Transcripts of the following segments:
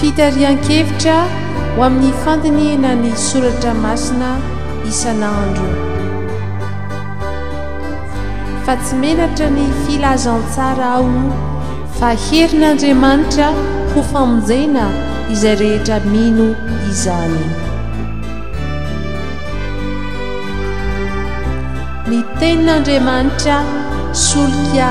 Fitarihan-kevitra ho amin'ny fandinihina ny soratra masina isan'andro. Fa tsy menatra ny filazantsara aho fa herin'Andriamanitra ho famonjena izay rehetra mino izany. Ny tenin'Andriamanitra solika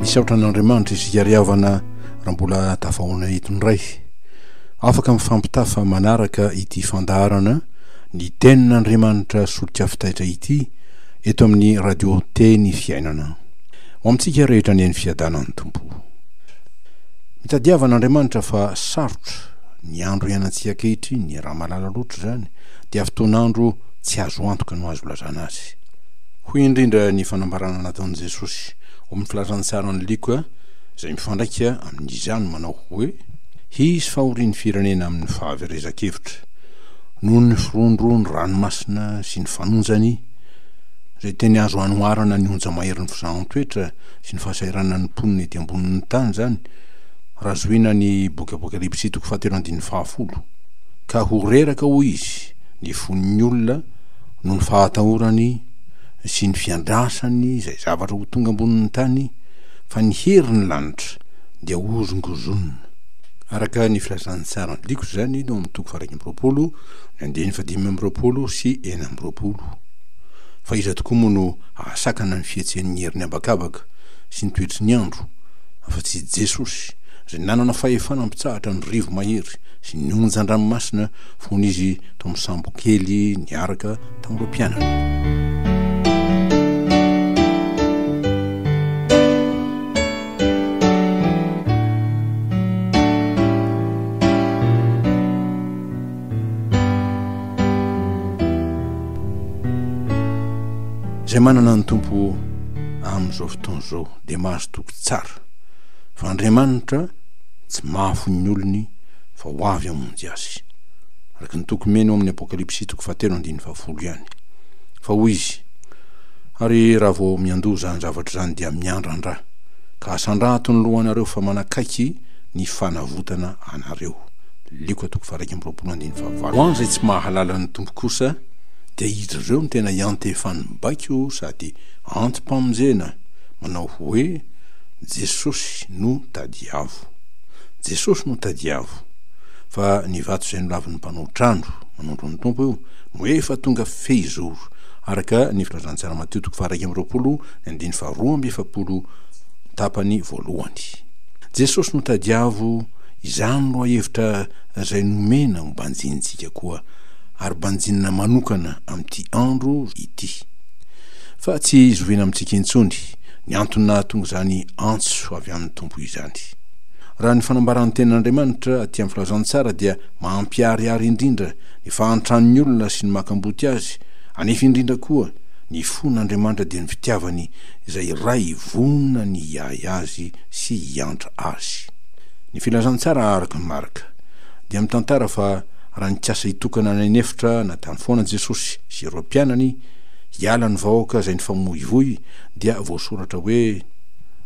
misaotra an'andriamanitra isika ry havana raha mbola tafahoana eto indray afaka mifampitafa manaraka ity fandaharana ny tenin'andriamanitra solika fitaitra ity eto amin'ny radio teny fiainana ho amintsika rehetra ny eny fiadanan'ny tompo mitadiavan'andriamanitra fa sarotra ny andro ianantsika kehitry ny raha malala loatra izany dia fotoan'andro Tsy azo antoka no azo ilazana azy. Hoy indrindra ny fanambarana nataon'i Jesosy ao amin'ny filazantsy aran'i Lioka izay mifandraika amin'izany manao hoe, Hisy fahorian'ny firenena amin'ny fahaverezan-kevitra, noho ny firondron'ny ranomasina sy ny fanonjany, izay teny azo anoharana ny onja maherin'ny fizahan-toetra sy ny fahasahiranan'ny mponina ety ambonin'ny tany izany raha zohiana ny boky Apokalypsy toko fahatelo andininy fahafolo. Ka ho reraka, hoy izy, ny fon'ny olona noho ny fahatahorany sy ny fiandrasany izay zavatra ho tonga ambonin'ny tany fa ny herin'ny lanitra dia hozongozonina. Araka ny filazan'ny sarin'ny diko izany tao amin'ny toko faha-iraika amby roapolo, ny andininy fahadimy amby roapolo sy enina amby roapolo. Fa iza tokoa moa no hahasakana ny fihetsehan'ny herin'ny habakabaka sy ny toetry ny andro afa-tsy i Jesosy izay nanana fahefana mpitsahatra ny rivo-mahery sy ny onjan-dranomasina fony izy tao amin'ny sambokely niaraka tamin'ireo mpianany. Izay manana ny tompo amin'izao fotoana izao dia mahazo toky tsara fa Andriamanitra tsy mahafo ny olony fa ho avy hamonjy azy, araka ny toky mino ao amin'ny Apokalypsy toko fahatelo andininy fahafolo ihany. Fa hoy izy, Ary raha vao miandoha izany zavatra izany dia miandrandra, ka asandrato ny lohanareo fa manakaiky ny fanavotana anareo. Lioka toko faha-iraika amby roapolo andininy fahavalo. Ho an'izay tsy mahalala ny Tompo kosa dia izy ireo no tena iantefan'ny baiko sady anti-pamonjena, manao hoe, Jesosy no tadiavo. Jesosy no tadiavo, fa ny vato izay nolavin'ny mpanao trano, manondro ny Tompo io, no efa tonga fehizoro, araka ny Filazantsara Matio toko faha-iraika amby roapolo ny andininy faha-roa amby efapolo tapany voalohany. Jesosy no tadiavo, izany lohahevitra izay nomena ho banjinintsika koa, ary banjinina manokana amin'ity andro ity. Fa tsy zoviana amintsika intsony ny antony nahatonga izany antso avy amin'ny Tompo izany. Kristy. Raha ny fanambaran'ny Tenin'Andriamanitra aty amin'ny Filazantsara dia mampiharihary indrindra ny fahantran'ny olona sy ny makamboty azy, anefa indrindra koa ny fon'Andriamanitra dia ny fitiavany izay Ray vonona ny hiahy azy sy hiantra azy. Ny Filazantsara araka an'i Marka dia mitantara fa raha nikasa hitokana any an'efitra na tany foana Jesosy sy ireo mpianany hiala ny vahoaka izay nifamoivoy dia voasoratra hoe,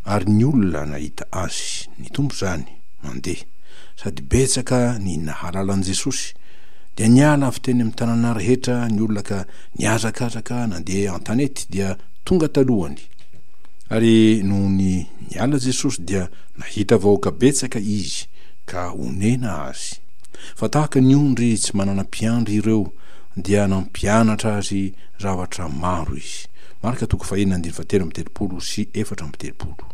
Ary ny olona nahita Azy, ny Tompo izany, mandeha, sady betsaka ny nahalala an'i Jesosy, dia niala avy teny amin'ny tanàna rehetra ny olona ka nihazakazaka nandeha an-tanety dia tonga talohany. Ary nony niala Jesosy dia nahita vahoaka betsaka Izy ka onena Azy. Fa tahaka ny ondry tsy manana mpiandry ireo dia nampianatra azy zavatra maro Izy. Marka toko fahenina andininy fahatelo amby telopolo sy efatra amby telopolo.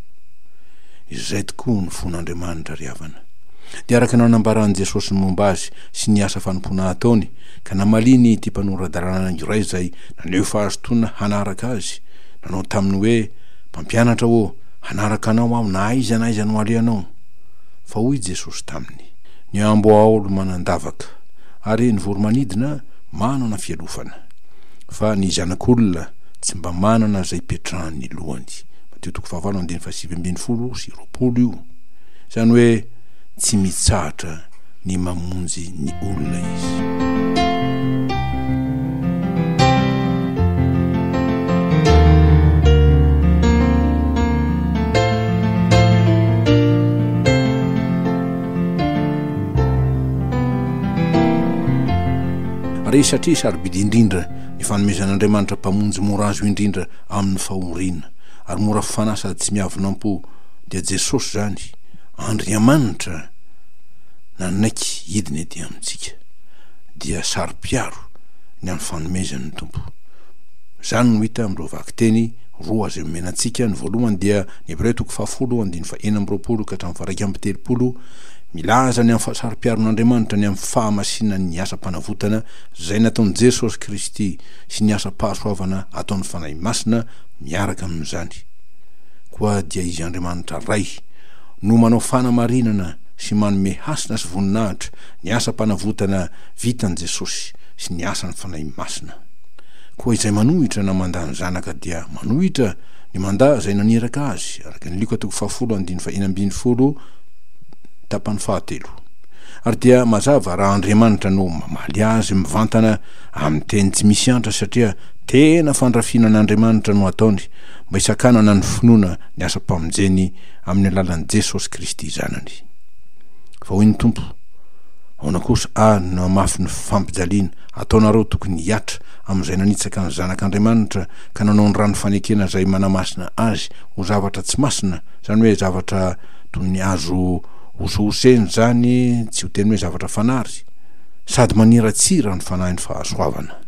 Izay tokoa ny fon' Andriamanitra ry havana. Dia araka ny nanambaran'i Jesosy ny momba Azy sy ny asa fanompoana ataony, ka namaliany ity mpanora-dalàna iray izay naneho fahazotoana hanaraka Azy, nanao taminy hoe, Mpampianatra ô, hanaraka Anao aho na aiza na aiza no alehanao. Fa hoy Jesosy taminy. Ny amboahaolo manan-davaka, ary ny voromanidina manana fialofana. Fa ny zanak'olona tsy mba manana izay ipetrahany ny lohany. Matio toko fahavalo andininy fahasivy ambin'ny folo sy roapolo io. Izany hoe tsy mitsahatra ny mamonjy ny olona izy. Resatresa ary bidy indrindra ny fanomezan'Andriamanitra Mpamonjy mora azo indrindra amin'ny fahoriana, ary mora fanahy sady tsy miavonam-po, dia Jesosy izany, Andriamanitra nanaiky hidina ety amintsika, dia saro-piaro ny amin'ny fanomezany ny Tompo. Izany no hita amin'ireo vakiteny roa izay omena antsika, ny voalohany dia ny Hebreo toko fahafolo andininy fahenina amby roapolo ka hatramin'ny faha iraika amby telopolo, Milaza ny amin'ny fahasaro-piaron'Andriamanitra ny amin'ny fahamasinany ny asam-panavotana izay nataon'i Jesosy Kristy sy ny asam-pahasoavana ataon'ny Fanahy Masina miaraka amin'izany. Koa dia Izy Andriamanitra Ray no manao fanamarinana sy manome hasina sy voninahitra ny asam-panavotana vitan'i Jesosy sy ny asan'ny Fanahy Masina. Koa izay manohitra na mandà ny Zanaka dia manohitra ny mandà izay naniraka Azy, araka ny Lioka toko fahafolo andininy fahenina ambin'ny folo, Tapany fahatelo. Ary dia mazava raha Andriamanitra no mamaly azy mivantana amin'ny teny tsy misy antra satria tena fandrafiana an'Andriamanitra no ataony mba hisakanana ny finoana ny asam-pamonjeny amin'ny alalan'i Jesosy Kristy Zanany. Fa hoy ny Tompo, Aona kosa ary no hamafy ny fampijaliana ataonareo tokony hihatra amin'izay nanitsaka ny Zanak'Andriamanitra ka nanao ny rano fanekena izay manamasina Azy ho zavatra tsy masina, izany hoe zavatra toy ny azo hosohosena izany tsy ho teny hoe zavatra fanary, sady maniratsira ny fanahin'ny fahasoavana.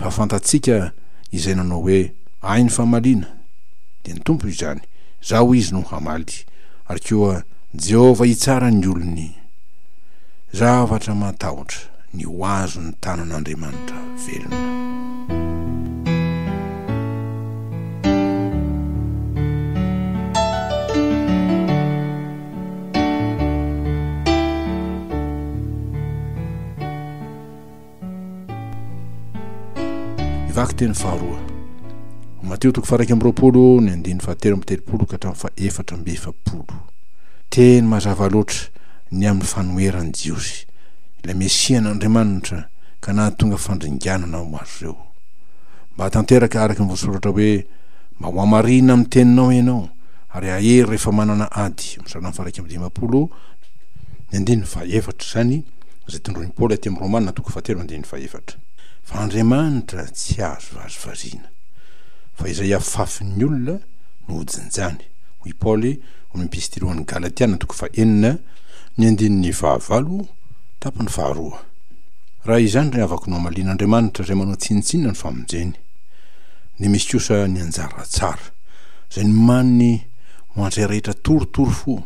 Fa fantatsika izay nanao hoe, Ahy ny famaliana, dia ny Tompo izany, Izaho hoy Izy no hamaly, ary koa Jehovah hitsara ny olony. Zavatra matahotra ny ho azon'ny tanan'Andriamanitra velona. Vaky teny faharoa. Mateo toko faraika amby roapolo ny andiny fahatelo amby telopolo ka hatramin'ny fahefatra amby efapolo. Teny mazava loatra ny amin'ny fanoheran'ny Jiosy ilay Mesia an'Andriamanitra ka nahatonga fandringanana ho azy ireo. Mba tanteraka araka ny voasoratra hoe, Mba ho hamarihina amin'ny teninao ianao, ary hahery rehefa manana ady. Amin'ny salan'ny faha-iraika amby dimampolo, ny andininy faha-efatra. Izany izay tondroin'i Paoly aty amin'ny Romana, toko fahatelo andininy faha-efatra. Fa Andriamanitra tsy azo vazivaziana, fa izay afafin'ny olona no hojinjany. Hoy i Paoly ao amin'ny Epistily ho an'ny Galatiana, toko fahenina, ny andininy fahavalo, tapany faharoa. Raha izany ry havako no hamalian' Andriamanitra izay manao tsinontsinona ny famonjeny, dia misy kosa ny anjara tsara, izay ny manny ho an'izay rehetra torotoro fo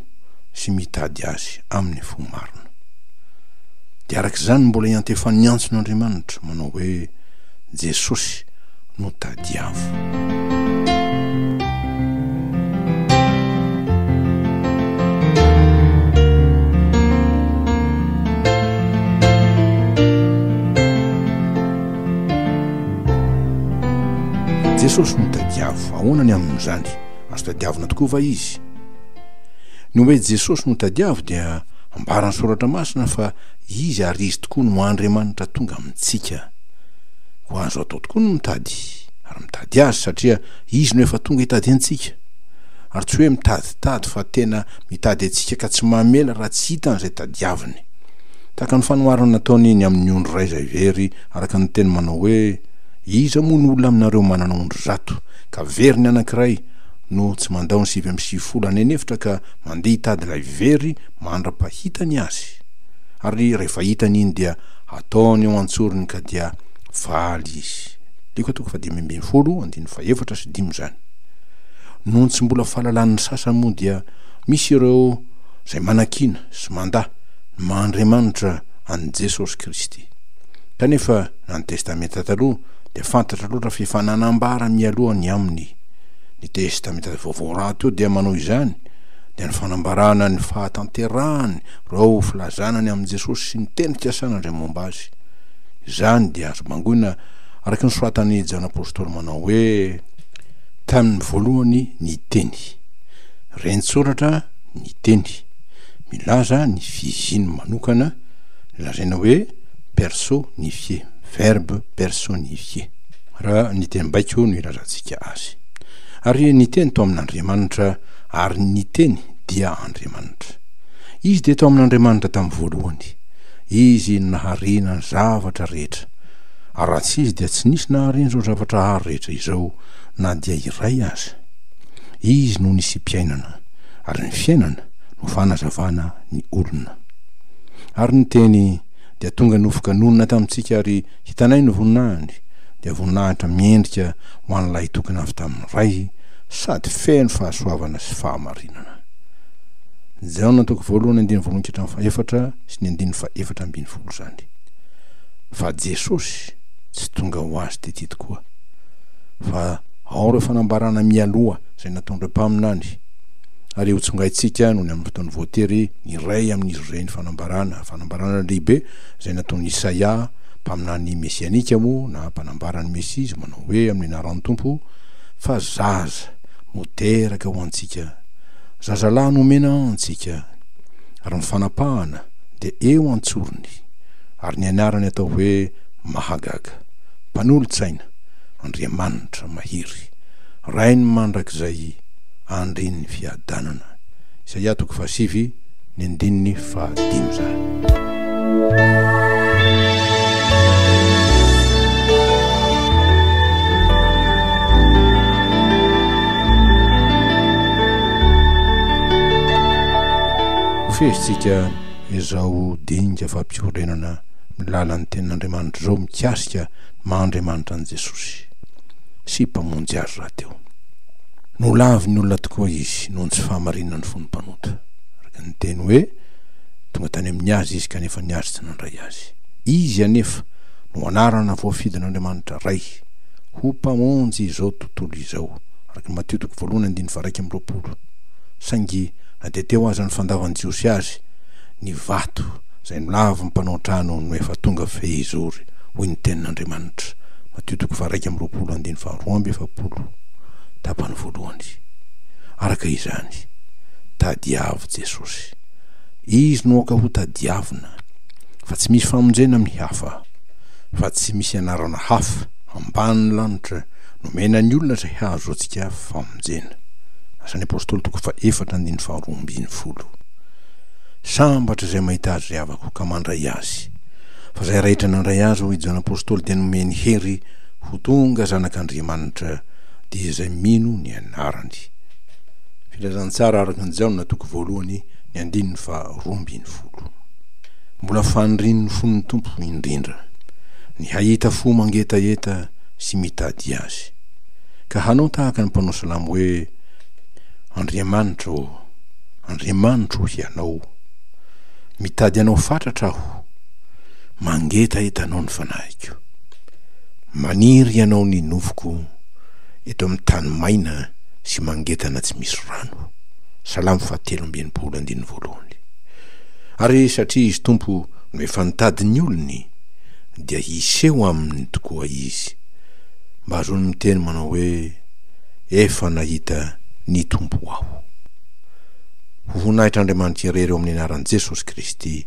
sy mitady Azy amin'ny fo marina. Dia araka izany no mbola iantefan'ny antson' Andriamanitra, manao hoe, Jesosy, no tadiavo. Jesosy no tadiavo, ahoana ny amin'izany? Azo tadiavina tokoa va izy? Ny hoe Jesosy no tadiavo dia ambaran'ny soratra masina fa izy ary izy tokoa no Andriamanitra tonga amintsika. Ho azo atao tokoa ny mitady ary mitady azy satria izy no efa tonga hitady antsika. Ary tsy hoe mitaditady fa tena mitady antsika ka tsy mamela raha tsy hitany izay tadiaviny. Tahaka ny fanoharana nataony ny amin'ny ondry iray izay very araka ny teny manao hoe Iza moa no olona aminareo manana ondry zato ka very ny anankiray no tsy mandao ny sivy amby sivifolo any an'efitra ka mandeha hitady ilay very mandra-pahitany azy? Ary rehefa hitany iny dia ataony eo an-tsorony ka dia valy izy. Lioka toko fahadimy ambin'ny folo andininy fahefatra sy dimy izany. Noho ny tsy mbola fahalalan'ny sasany moa dia misy ireo izay manakiana sy mandà ny maha Andriamanitra an'i Jesosy Kristy. Kanefa na ny Testamenta Taloha dia fantatra loatra fa efa nanambara mialoha ny aminy. Ny Testamenta Vaovao rahateo dia manao izany, dia ny fanambarana ny fahatanterahany ireo filazana ny amin'i Jesosy sy ny teny ikasan' Andria momba Azy. Izany dia azo bangoina araka ny soratan'i Jan Apostoly manao hoe. Tamin'ny voalohany ny Teny. Rentsoratra ny Teny. Milaza ny fihiziny manokana, lazaina hoe perso nifie, verbe personifié. Raha ny teny baiko no ilazantsika Azy. Ary ny Teny to amin'Andriamanitra, ary ny Teny dia Andriamanitra. Izy dia tao amin' Andriamanitra tamin'ny voalohany. Izy no naharina ny zavatra rehetra, ary raha tsy Izy dia tsy nisy naharina izao zavatra hary rehetra izao na dia iray aza. Izy no nisiam-piainana, ary ny fiainana no fanazavana ny olona. Ary ny Teny dia tonga nofoka nonina tamintsika ary Hitanay ny voninahiny, dia voninahitra miendrika ho an'ny Lahitokana avy tamin'ny Ray sady feno fahasoavana sy fahamarinana. Ny Jaona toko voalohany andininy voalohany ka hatramin'ny fahefatra sy ny andininy fahefatra ambin'ny folo izany. Fa Jesosy tsy tonga ho azy tety tokoa, fa ao ireo fanambarana mialoha izay nataon'ireo mpaminany, ary hotsongaintsika nony amin'ny fotoana voatery ny iray amin'izy ireny fanambarana, fanambarana lehibe, izay nataon'i Isaia, mpaminany mesianika moa na mpanambara ny Mesia, izay manao hoe, Amin'ny anaran'ny Tompo, fa zaza no teraka ho antsika, zazalahy no omena antsika, ary ny fanapahana dia eo an-tsorony, ary ny anarany atao hoe Mahagaga, Mpanolo-tsaina, Andriamanitra mahery, Rain'ny mandrakizay, Andrin'ny fiadanana. Isaia toko fahasivy. ny andininy fahadimy izany fehitsika izao dinga fampiorenana milala ny ten'andriamanitra izao mikasika maha andriamanitra an'i jesosy sy mpamonjy azy rahateo nolaviny olona tokoa izy noho ny tsy fahamarinan'ny fony mpanota Ka araka ny teny hoe, Tonga tany amin'ny Azy izy, kanefa ny Azy tsy nandray Azy. Izy anefa no anarana voafidin'Andriamanitra Ray, ho Mpamonjy izao tontolo izao, araka ny Matio toko voalohany andininy faharaika amby roapolo. Saingy na dia teo aza ny fandavan'ny Jiosy Azy, ny vato izay nolavin'ny mpanao trano no efa tonga fehizory, hoy ny Tenin'Andriamanitra, Matio toko faharaika amby roapolo andininy faharoa amby efapolo, tapany voalohany. Araka izany. Tadiavo Jesosy. Izy no aoka ho tadiavina, fa tsy misy famonjena amin'ny hafa, fa tsy misy anarana hafa ambanin'ny lanitra nomena ny olona izay hahazoantsika famonjena. Asan'ny Apôstôly toko fahefatra andininy faharoa ambin'ny folo. Sambatra izay mahita azy ry havako ka mandray azy, fa izay raitra nandray azy hoy Jaona Apôstôly dia nomeny hery ho tonga zanak'Andriamanitra, dia izay mino ny anarany. Filazantsara araka an'i Jaona toko voalohany ny andininy faha roa ambin'ny folo. Mbola fanirian'ny fon'ny Tompo indrindra ny hahita fo mangetaheta sy mitady Azy, ka hanao tahaka ny mpanao salamo hoe, Andriamanitra ô, Andriamanitro o Hianao, mitady Anao fatratra aho, mangetaheta Anao ny fanahiko. Maniry Ianao ny nofoko eto amin'ny tany maina, sy mangedana tsy misy rano, Salamo fahatelo amby enimpolo andininy voalohany. Ary satria Izy Tompo no efa nitady ny olony, dia hiseho aminy tokoa Izy, mba azony miteny manao hoe, Efa nahita ny Tompo aho. Ho voninahitr'Andriamanitra irery eo amin'ny anaran'i Jesosy Kristy.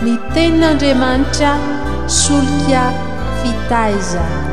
Ny Tenin'Andriamanitra solika fitaizana.